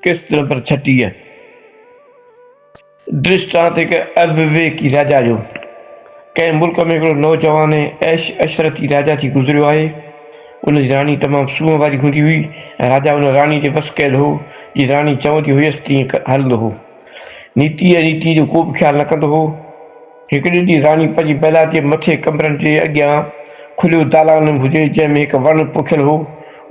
قسط نمبر ڇٽيهه، ڊرسٽانت هڪ ايوويڪي راجا جو ڪنهن ملڪ ۾ هڪڙو نوجوان ۽ عيش عشرتي راجا ٿي گذريو آهي. ان جي راڻي تمام سونهن واري هوندي هئي ۽ راجا ان راڻي تي وس ڪيل هو. جيئن راڻي چوندي هيس تيئن هلندو هو. نيتي ۽ ريتي جو ڪو به خيال نه ڪندو هو. هڪڙي ڏينهن راڻي پنهنجي محلات جي مٿي ڪمرن جي اڳيان کليو دالان هجي جنهن ۾ هڪ وڻ پوکيل هو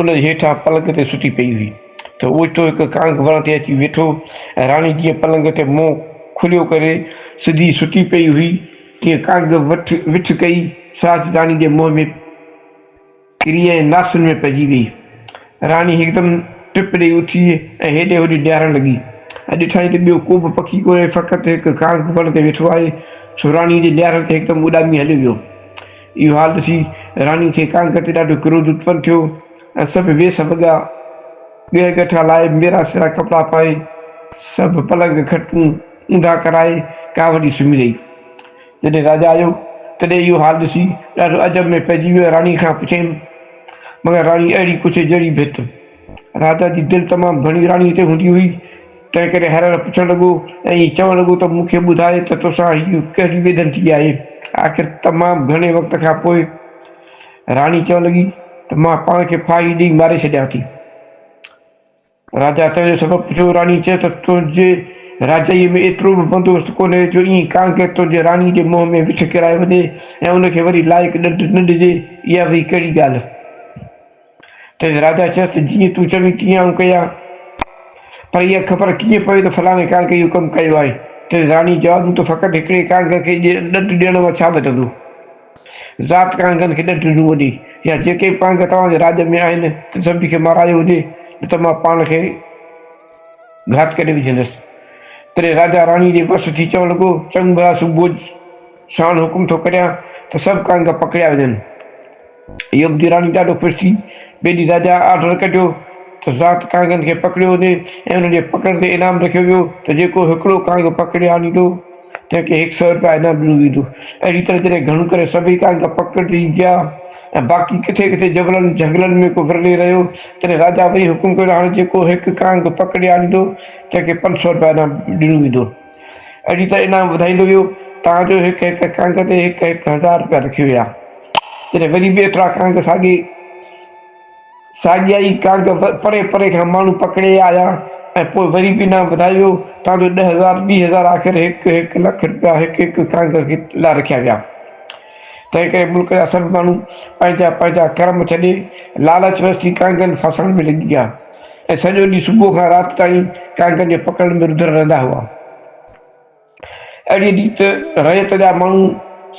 ان جي هيٺان پلنگ تي ستي پئي هئي ته اوچتو هڪ ڪانگ وڻ تي اچي ويٺو ۽ راڻي جيئن پلنگ تي منهن کليو ڪري سڌي ستي پئي هئي تيئن ڪانگ وٺ وٺ ڪئي ساچ راڻي جي منهن ۾ ڪري ۽ لاسن ۾ پئجي ويئي. راڻي هڪدم ٽپ ڏيئي اٿي ۽ هيڏي هوڏي ڊيارڻ لڳي ۽ ڏٺائين ته ٻيو ڪوبه پکي ڪونهي فقط هڪ ڪانگ وڻ تي ويٺو آهي سو راڻي جي ڊيارڻ تي هڪدم اڏامي هليو ويو. اهو حال ڏسي راڻي کي ڪانگ تي ڏاڍو ڪروڌ اتپن ٿيو ۽ سڀ ويس وڳا، ڳهه ڳٺا لائي، ميرا سيرا ڪپڙا پائي، سڀ پلنگ کٽون اونڌا ڪرائي ڪاهه وڍي سمهي رهي. جڏهن راجا آيو، تڏهن اهو حال ڏسي، ڏاڍو عجب ۾ پئجي ويو ۽ راڻي کان پڇيم، مگر راڻي اهڙي پڇي جهڙي ڀت. راجا جي دل تمام گهڻي راڻيء تي هوندي هئي، تنهنڪري هر هر پڇڻ لڳو ۽ ائين چوڻ لڳو ته مون کي ٻڌاء ته توسان هيء ڪهڙي ويڌن ٿي آهي؟ آخر تمام گهڻي وقت کان پوء راڻي چوڻ لڳي ته مان پاڻ کي ڦاهي ڏيئي ماري ڇڏيان ٿي. راجا تنهن جو سبب پڇيو، راڻي چيو ته تنهنجي راجائيء ۾ ايترو به بندوبست ڪونهي جو ائين ڪانڪر تنهنجي راڻي جي منهن ۾ وڇ ڪيرائي وڃي ۽ ان کي وري لائق ڏنڊ نه ڏجي، اها وئي ڪهڙي ڳالهه؟ تنهن راجا چيس ته جيئن تون چوين تيئن آئون ڪيان، پر اها خبر ڪيئن پوي ته فلاڻي ڪانڪ اهو ڪم ڪيو آهي؟ تنهن راڻي جواب ڏنو ته فقط هڪڙي ڪانڪ کي ڏنڊ ڏيڻ مان ڇا بچندو؟ ذات ڪانگن کي ڏڍ ڏنو وڃي يا جيڪي به ڪانگ توهان جي راڄ ۾ آهن تن سڀني کي مارايو وڃي نه ته مان پاڻ کي گهات ڪري وجهندس. تڏهن راجا راڻي جي وس ٿي چوڻ لڳو، چڱ ڀلا سوڀوج ساڻ حڪم ٿو ڪريان ته سڀ ڪانگ پڪڙيا وڃن. اهو ٻڌي راڻي ڏاڍو خوش ٿي. ٻئي ڏينهن راجا آرڊر ڪڍيو ته ذات ڪانگن کي پڪڙيو وڃي ۽ انهن جي پڪڙ تي انعام رکيو ويو ته جيڪو هڪڙو ڪانگ پڪڙي آڻيندو، تنهن کي هڪ سئو رپيا انعام ڏنو ويندو. اهڙي طرح جڏهن گهڻو ڪري سڀئي ڪانگ پڪڙجي ويا ۽ باقي ڪٿي ڪٿي جبلن جهنگلن ۾ ڪو ورلي رهيو، تڏهن راجا وري حڪم ڪيو ته هاڻ جيڪو هڪ ڪانگ پڪڙي آڻيندو، تنهن کي پنج سئو رپيا انعام ڏنو ويندو. اهڙي طرح انعام وڌائيندو ويو، تان جو هڪ هڪ ڪانگ تي هڪ هڪ هزار رپيا رکيو ويا. جڏهن وري به ايترا ڪانگ ساڳي. ساڳيا ئي ڪانگ پري پري کان ماڻهو پڪڙي آيا ۽ پوء وري به انعام وڌايو ويو، تان جو ڏهه هزار، ٻي هزار، آخر هڪ هڪ لک رپيا هڪ هڪ ڪانگ لاء رکيا ويا. تنهن ڪري ملڪ جا سڀ ماڻهو پنهنجا پنهنجا ڪرم ڇڏي لالچ وس ٿي ڪانگن ڦاسائڻ ۾ لڳي ويا ۽ سڄو ڏينهن صبح کان رات تائين ڪانگن جي پڪڙڻ ۾ رڌل رهندا هئا. اهڙيء ڏينهن ته رعيت جا ماڻهو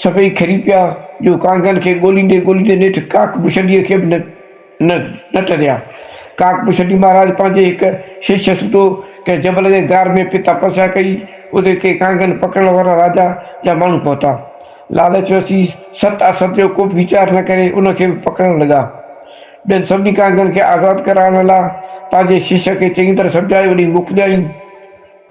سڀئي کري پيا، جو ڪانگن کي ڳوليندي ڳوليندي نيٺ ڪاڪ پشنڊيء کي به نه ٽريا. ڪاڪ پشنڊي مهاراج پنهنجي هڪ شش سوڌو ڪنهن جبل جي غار ۾ پئي تپسيا ڪئي، اتي ڪي ڪانگن پڪڙڻ وارا راجا جا ماڻهو پهتا. لالچ وسي ست اسد جو ڪوبه ويچار نه ڪري ان کي به پڪڙڻ لڳا. ٻين سڀني ڪانگن کي آزاد ڪرائڻ لاء پنهنجي شش کي چڱي طرح سمجهائي وڃي موڪليائين.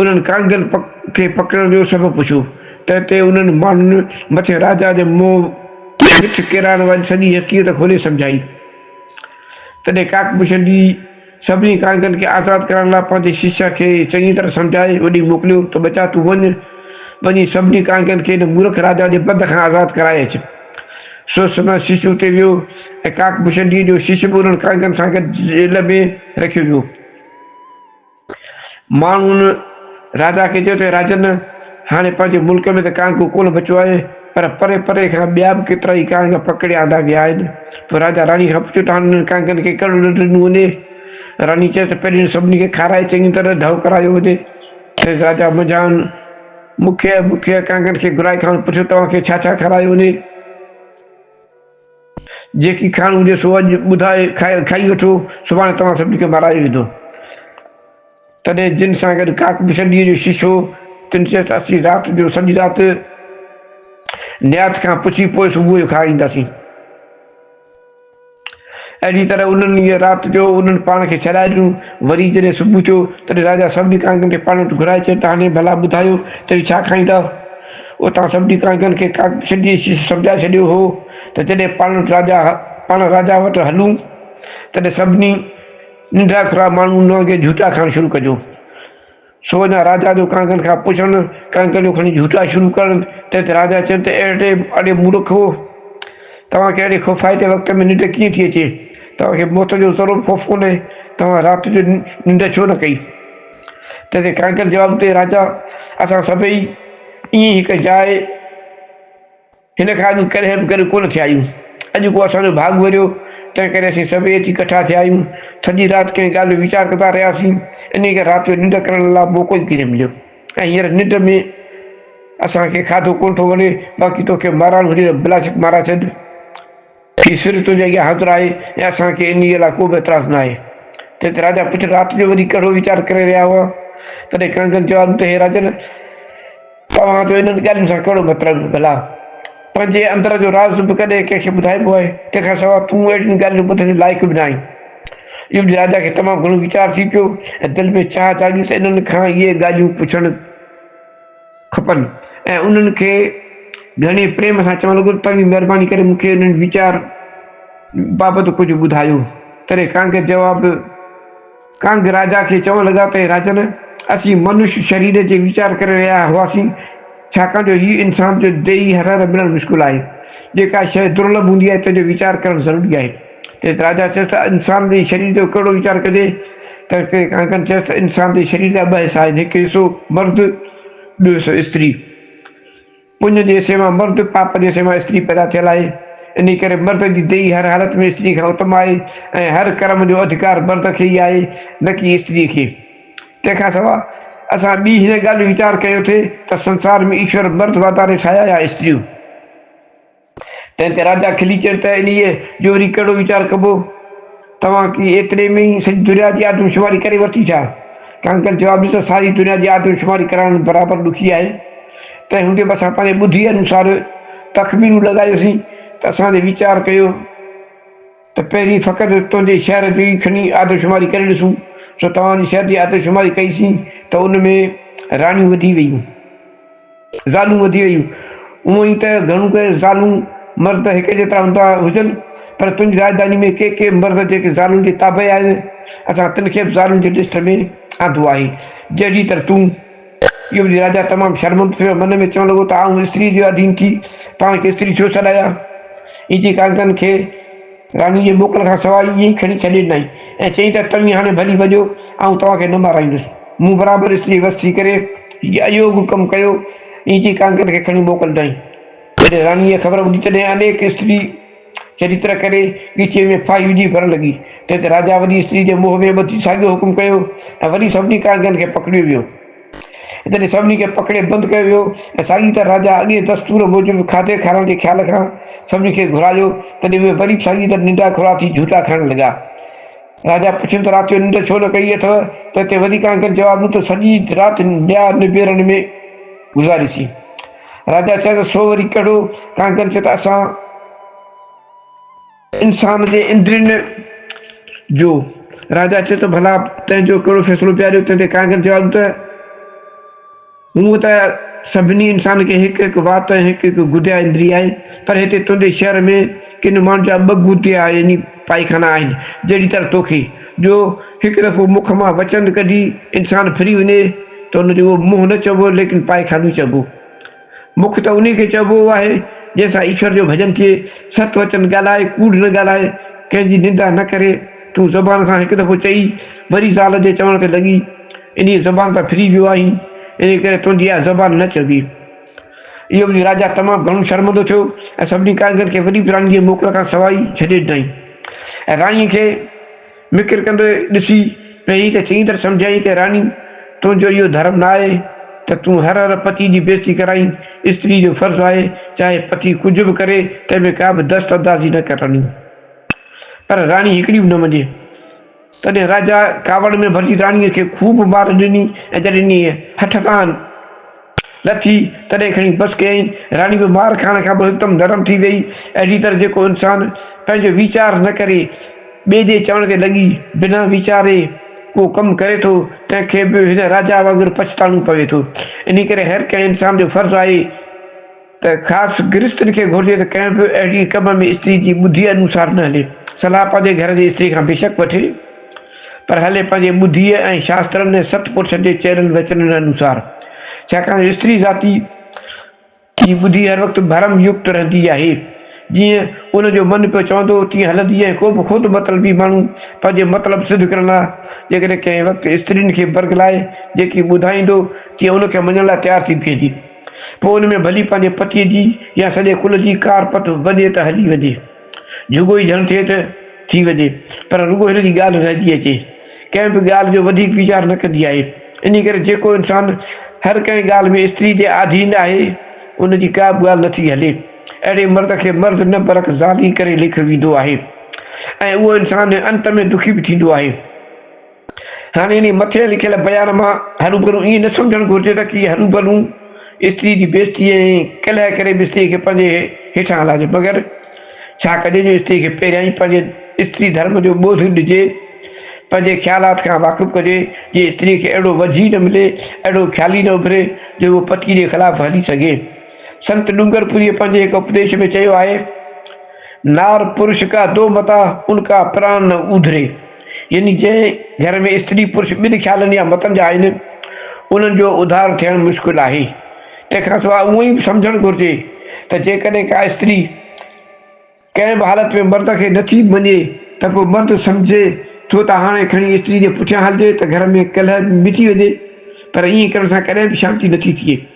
انهن ڪانگن کي پڪڙڻ جو سبب پڇيو، تنهن تي انهن ماڻهن مٿين راجا جي منهن مٺ ڪيرائڻ واري سڄي حقيقت کولي سمجهائي. تڏهن ڪاڪ بشن جي سڀني ڪانگن کي آزاد ڪرائڻ لاء پنهنجي شيشا کي چڱي طرح سمجهائي وڍي موڪليو ته ٻچا تون وڃ، وڃي سڀني ڪانگن کي هن مورک راجا جي بند کان آزاد ڪرائي اچ. سو سندن شيشو اتي ويو ۽ ڪاڪ بشن جي جو شيشو به انهن ڪانگن سان گڏ جيل ۾ رکيو ويو. ماڻهن راجا کي چيو ته راجن، هاڻي پنهنجي ملڪ ۾ ته ڪانڪو ڪونه بچو آهي، پر پري پري کان ٻيا به ڪيترائي ڪانڪ پڪڙي آندا ويا آهن. پوء راجا راڻي کان پڇيو ته هاڻي انهن ڪانڪن کي ڪهڙو ڏنڊ ڏنو وڃي؟ راڻي چيس ته پهرين سڀني کي کارائي چڱي طرح ڍؤ ڪرايو وڃي. کيس راجا منجهائن مکيه مکيه ڪانڪن کي گهرائي کانئس پڇيو توهان کي ڇا ڇا کارايو وڃي؟ جيڪي کائڻو هجي سو اڄ ٻڌائي کائي وٺو، سڀاڻي توهان سڀني کي مارائي ويندو. تڏهن جن سان گڏ ڪاڪ به شرڙيء جو شيش هو، تن چيس، اسين رات جو سڄي رات نيات کان پڇي پوء صبح جو کائي اينداسين. اهڙيء طرح انهن انهيء رات جو انهن پاڻ کي ڇڏائي ڏنو. وري جڏهن صبح ٿيو، تڏهن راجا سڀني ڪانگن کي پاڻ وٽ گهرائي چيو ته هاڻي ڀلا ٻڌايو ته اهي ڇا کائيندا؟ اتان سبدي ڪانگن کي سڌي شيش سمجهائي ڇڏيو هو ته جڏهن پاڻ راجا پاڻ راجا وٽ هلون تڏهن سڀني ننڍڙا کرا ماڻهو ان وانگي جهوٽا کائڻ شروع ڪجو. سو اڃا راجا جو ڪانگن کان پڇڻ ڪانگن جو کڻي جهوٽا شروع ڪرڻ تنهن تي راجا چين ته اڙي اڙي مورکو توهان کي اهڙي خوفائتي وقت ۾ ننڊ ڪيئن ٿي اچي توهان کي موت جو ذرو به خوف ڪونهي توهان رات جو ننڊ ڇو نه ڪئي. تنهن تي ڪانڪر جواب ڪيو، راجا! اسان سڀئي ائين هڪ جاء هن کان اڳ ڪڏهن به گڏ ڪونه ٿيا آهيون. اڄ ڪو اسان جو ڀاڳ وريو، تنهن ڪري اسين سڀئي اچي ڪٺا ٿيا آهيون. سڄي رات ڪنهن ڳالهه جو ويچار ڪندا رهياسين، انهيء ڪري رات جو ننڊ ڪرڻ لا موقعو ئي ڪينه مليو ۽ هينئر ننڊ ۾ اسان کي کاڌو ڪونه ٿو وڻي، باقي توکي مارائڻ هجي ته بلاشڪ مارائي ڇڏ. هي سر تنهنجي اڳيان حاضر آهي ۽ اسان کي انهيء لاء ڪوبه اعتراض ناهي. تنهن تي راجا پڇيو، رات جو وري ڪهڙو ويچار ڪري رهيا هئا؟ تڏهن ڪنگن جواب ڏنو ته هي راجن! توهان جو انهن ڳالهين سان ڪهڙو مطلب؟ ڀلا پنهنجي اندر جو راز به ڪڏهن ڪنهن کي ٻڌائبو آهي؟ تنهن کان سواء تون اهڙين ڳالهين ٻڌڻ جي لائق به نه آهين. اهو ٻڌي راجا کي تمام گهڻو ويچار ٿي پيو ۽ دل ۾ چاهه جاڳي ته انهن کان اهي ڳالهيون پڇڻ. کپن ۽ انهن کي گهڻي پريم سان چوڻ لڳو ته توهين مهرباني ڪري مون کي انهن ويچار بابت ڪجهه ٻڌايو. تڏهن ڪانگ جواب ڪانگ راجا کي چوڻ لڳا ته اي راجن! اسين منش شرير جي ويچار ڪري رهيا هئاسين ڇاڪاڻ جو هي انسان جو ديهي هرهر ملڻ مشڪل آهي. جيڪا شيء درلڀ هوندي آهي تنهن جو ويچار ڪرڻ ضروري آهي. تنهن تي راجا چيس ته انسان جي شرير جو ڪهڙو ويچار ڪجي؟ تنهن تي ڪانڪن چيس ته انسان جي شرير جا ٻه حصا آهن، هڪ حصو مرد، ٻيو حصو استري. پڃ جي حصي مان مرد، پاپ جي حصي مان استري پيدا ٿيل آهي. انهيء ڪري مرد جي ديهي هر حالت ۾ استري کان اتم آهي ۽ هر ڪرم جو اڌڪار مرد کي ئي آهي، نه ڪي استريء کي. تنهن کان سواء اسان ٻي هن ڳالهه جو ويچار ڪيو ٿي ته سنسار ۾ ايشور مرد واڌاري ٺاهيا يا استريون؟ تنهن تي راجا کلي چيو ته انهيء جو وري ڪهڙو ويچار ڪبو؟ توهان ڪي ايتري ۾ ئي سڄي دنيا جي آدمشماري ڪري ورتي ڇا؟ ڪانڪر جواب ڏنو ته ساري دنيا جي آدمشماري ڪرائڻ برابر ڏکي آهي. تنهن هوندي به اسان پنهنجي ٻڌيء انوسار تخمينون لڳايوسين ته اسان جي ويچار ڪيو ته پهرين فقط تنهنجي شهر جي ئي کڻي آدمشماري ڪري ڏسون. سو توهان جي شهر جي آدمشماري ڪئيسين ته ان ۾ راڻيون وڌي ويون. زالون وڌي ويون. هونئن ئي ته گهڻو ڪري زالون مرد هڪ جيترا هوندا هجن، پر تنهنجي راڄڌاني ۾ ڪي ڪي مرد جيڪي زالن جي تابع آهن، اسان تن کي به زالن جي لسٽ ۾ آندو آهي، جهڙيء طرح تون. اهو ٻڌي راجا تمام شرمندو ٿيو ۽ من ۾ چوڻ لڳو ته آئون اسٽريء جو آڌين ٿي پاڻ کي استري ڇو سڏايان؟ ائين چئي ڪانڪن کي. راڻي جي موڪل کان سواء ئي ائين کڻي ڇڏي ڏنائين ۽ چيائين ته توهين هاڻي ڀلي وڄو، آئون توهان کي نه مارائيندس. مون برابر استري وس ٿي ڪري هي ايوڳ ڪم ڪيو. ائين چئي ڪانڪر کي کڻي موڪل ڏنائين. جڏهن راڻيء اها خبر ٻڌي تڏهن انيڪ استري چريتر ڪري ڳچيء ۾ ڦاهي وجهي ڀرڻ لڳي. تنهن تي راجا وڏي استري جي موهه ۾ ٻڌي ساڳيو حڪم ڪيو ۽ وري سڀني ڪانڪن کي پڪڙيو ويو. تڏهن سڀني کي پڪڙي بند ڪيو ويو ۽ ساڳي طرح راجا اڳئين دستور موجب کاڌي کارڻ جي خيال کان سڀني کي گهرايو، تڏهن اهي وري به ساڳي طرح ننڊا کڙا ٿي جهوٽا کائڻ لڳا. راجا پڇيم ته رات جو ننڊ ڇو نه ڪئي اٿئو؟ تنهن تي وري ڪانڪن جواب ڏنو ته سڄي رات ٻيا نبيرڻ ۾ گذاريسين. راجا چيس ته سو وري ڪهڙو؟ ڪانڪن چيو ته اسان. انسان جي اندرين جو. راجا چئي ٿو، ڀلا تنهن جو ڪهڙو فيصلو پيا ڏيو؟ تنهن تي ڪانگر جواب ڏنو ته، هونء ته سڀني انسانن کي هڪ هڪ وات ۽ هڪ هڪ گديا اندري آهي، پر هتي تنهنجي شهر ۾ ڪن ماڻهن جا ٻه گديا يعني پائخانا آهن، جهڙي طرح توکي، جو هڪ دفعو مک مان وچن ڪڍي انسان ڦري وڃي ته ان جو اهو منهن نه چئبو، ليڪن پائخانو ئي چئبو. مک ته انهي کي چئبو آهي، جنهن سان ايشور جو ڀڄن ٿئي، ست وچن ڳالهائي، ڪوڙ نه ڳالهائي، ڪنهن جي نندا نه ڪري، تون زبان سان هڪ دفعو چئي، وري زال جي چوڻ تي لڳي، انهيء زبان تان ڦري ويو آهين، انهي ڪري تنهنجي اها زبان نه چئبي. اهو ٻڌي راجا تمام گهڻو شرمندو ٿيو ۽ سڀني ڪاريگرن کي وڏي پراڻي جي موڪل کان سواء ئي ڇڏي ڏنائين ۽ راڻيء کي. مکر ڪندو ڏسي پيئي ته چڱي طرح سمجهيائين ته راني تنهنجو اهو ڌرم نه آهي ته تون هر هر پتي جي بيعزتي ڪرائين، استري جو فرض آهي چاهي پتي ڪجهه به ڪري تنهن ۾ ڪا به دست اندازي نه ڪرڻي. پر راڻي هڪڙي به نه مڃي. تڏهن راجا ڪاوڙ ۾ ڀرجي راڻيء کي خوب مار ڏني ۽ جڏهن انهيء هٺ کان. نه ٿي، تڏهن کڻي بس ڪيائين. راڻي به مار کائڻ کان پوء هڪدم نرم ٿي ويئي. اهڙيء طرح جيڪو انسان پنهنجو ويچار نه ڪري، ٻئي جي چوڻ تي لڳي بنا ويچاري ڪو ڪم ڪري ٿو، تنهن کي به هن راجا وانگر پڇتاڻو پوي ٿو. انهيء ڪري هر ڪنهن انسان جو فرض آهي، ته خاص گرهستن کي گهرجي ته ڪنهن به اهڙي ڪم ۾ استري جي ٻڌيء انوسار نه هلي. صلاح پنهنجي گهر جي استري کان بيشڪ وٺي، پر هلي پنهنجي ٻڌيء ۽ شاسترن ۽ ست پرشن جي چيلن ويچلن انوسار. ڇاڪاڻ جو استري ذاتي جي ٻڌي هر وقت ڀرم يڪت رهندي آهي. جيئن ان جو من پيو چوندو تيئن هلندي ۽ ڪو به خود مطلبي ماڻهو پنهنجي مطلب سڌ ڪرڻ لاء جيڪڏهن ڪنهن وقت استرين کي برغلائي جيڪي ٻڌائيندو تيئن ان کي مڃڻ لاء تيار ٿي بيهندي. پوء ان ۾ ڀلي پنهنجي پتيء جي يا سڄي ڪل جي ڪار پت وڄي ته هلي وڃي. جهڳو ئي جهڻ ٿئي ته ٿي وڃي. پر رڳو هن جي ڳالهه رهجي اچي. ڪنهن به ڳالهه جو وڌيڪ ويچار نه ڪندي آهي. انهيء ڪري جيڪو انسان هر ڪنهن ڳالهه ۾ استريء جي آڌين آهي، ان جي ڪا به ڳالهه نه ٿي هلي. اهڙي مرد کي مرد نه برعڪس زال ئي ڪري ليکيو ويندو آهي ۽ اهو انسان انت ۾ دکي به ٿيندو آهي. هاڻي انهيء مٿي لکيل بيان مان هروڀرو ائين نه سمجهڻ گهرجي ته ڪي هروڀرو استري جي بيعزتيء ۽ ڪلهه ڪري به استري کي پنهنجي هيٺان لاهجي، مگر ڇا ڪجي جو استري کي پهريان ئي پنهنجي استري ڌرم جو ٻوڌ ڏجي، پنهنجي خيالات کان واقف ڪجي، جيئن استري کي اهڙو وجهه ئي نه ملي، اهڙو خيال ئي نه اڀري جو هوء پتيء جي خلاف هلي سگهي. سنت ڏونگرپوريء پنهنجي هڪ اپديش ۾ چيو آهي، نار پرش ڪا دو متا، ان ڪا پران نه اوڌري. يعني جنهن گهر ۾ استري پرش ٻن خيالن يا متن جا آهن، انهن جو اڌار ٿيڻ مشڪل آهي. تنهن کان سواء اهو ئي به سمجهڻ گهرجي ته جيڪڏهن ڪا استري ڪنهن به حالت ۾ مرد کي نٿي مڃي ته پوء مرد سمجهي ٿو ته هاڻي کڻي استري جي پٺيان هلجي ته گهر ۾ ڪلهه به مٽي وڃي پر ائين ڪرڻ سان ڪڏهن به شانتي نٿي ٿئي.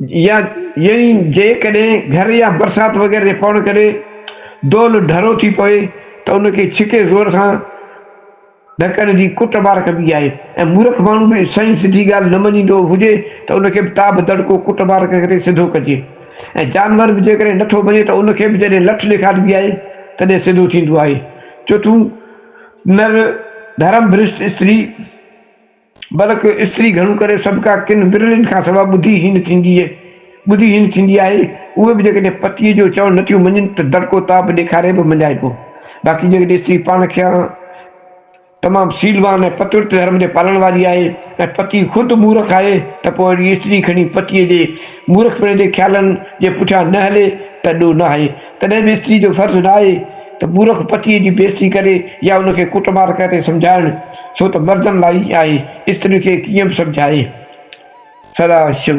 يا يعني جيڪڏهن گهر يا برسات وغيره جي پوڻ ڪري دول ڍرو ٿي پوي ته ان کي ڇڪي زور سان ڍڪڻ جي ڪٽ مار ڪبي آهي ۽ مورک ماڻهو به سائين سڌي ڳالهه نه مڃيندو هجي ته ان کي به تا به دڙڪو ڪٽ مار ڪري سڌو ڪجي ۽ جانور به جيڪڏهن نٿو مڃي ته ان کي به جڏهن لٺ ڏيکاربي آهي تڏهن سڌو ٿيندو آهي چوٿون نر ڌرم ڀرشٽ استري بلڪ استري گهڻو ڪري سڀڪا ڪن ورلين کان سواء ٻڌي هين ٿيندي ٻڌي هين ٿيندي آهي، اهي به جيڪڏهن پتيء جو چوڻ نٿيون مڃين ته دڙڪو تاء به ڏيکاري به مڃائبو. باقي جيڪڏهن استري پاڻ کيان تمام سيلوان ۽ پتورت ڌرم جي پالڻ واري آهي ۽ پتي خود مورخ آهي ته پوء اهڙي استري کڻي پتيء جي مورخپڻي جي خيالن جي پٺيان نه هلي ته ڏوهه ناهي. تڏهن به استري جو فرض ناهي ته مورک پتيء جي بيعزتي ڪري يا ان کي ڪٽ مار ڪري سمجهائڻ، ڇو ته مردن لاء ئي آهي، استرين کي ڪيئن به سمجهائي. سدا شو.